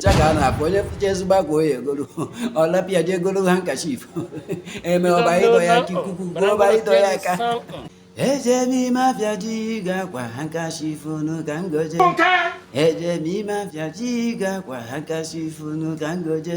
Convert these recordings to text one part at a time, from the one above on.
ncha ka a na-afụ onye fụcha ezigbo akwa ọ ya-egolu ọ lapụ ya je egolu handkerchief eme ọba ịdọ ya aka ikuku ọba ịdọ ya aka eje m ime afịa je ego akwa handkerchief unu ka ngoje eje m ime afịa je ego akwa handkerchief unu ka ngoje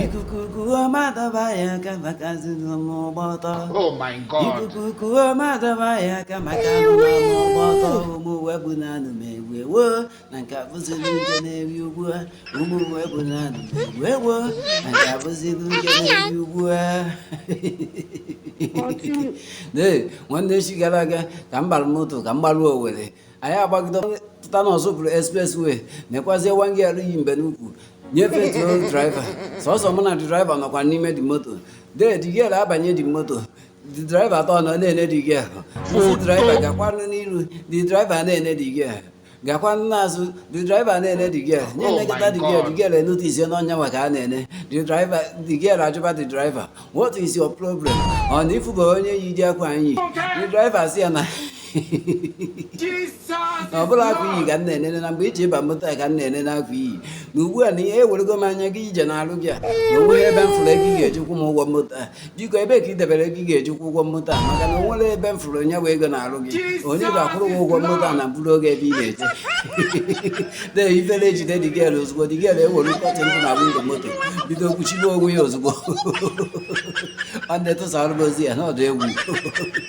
ikuku kuo m adọba ya aka maka azụnụmụ ịgba ọtọ Oh my God. ikuku kuo m adọba ya aka maka azụnụmụ ịgba ọtọ ụmụ webụ na anụ m egwu ewo na nke abụziri uche na-eri ugbu a ụmụ uwe bụ na wee gboo na nke abụziri uche na-eri ugbu a ee nwanne echi gara aga ka m gbara moto ka m gbaruo owere anyị agbagide pụta n'ụzọ bụrụ expressway nekwazie one girl yi mbe n'ukwu nyefee tụrụ draiva sọsọ mụ na draiva nọkwa n'ime the moto dee the girl abanye the moto the driver atọ nọ na-ene the girl the driver gakwanụ n'iru the driver na-ene the girl gakwa n'azụ the driver na-ene the girl nye Oh nekịta my the girl God. the girl enute isi n'ọnya nwoke a na-ene the driver the girl ajụba the driver what is your problem ọ na ịfụba onye yi ụdị akwa m yi the driver sị ya na Jesus na ọ bụrọ akwa i yi ka m na-enene na mgbe i ji ba moto a ka m na-enene akwa i yi na ugbu a na ihe ewerego m anya gaa ije n'alụ gị a na onweghị ebe m fụrụ ego ị ga-eji kwụ m ụgwọ moto a biko ebe ka ị debere ego ị ga-eji kwụ ụgwọ moto a maka na o nwerọ ebe m fụrụ onye bụ ego n'arụ gị onye ga-akwụrụ m ụgwọ moto a na-eburu gị ebe ị na-eje de ifere ejide the girl ozugbo the girl ewere curtain dị na windo moto bido kwuchibe onwe ya ozugbo ọ na-etụsara m ozi ya n'ọdụ egwu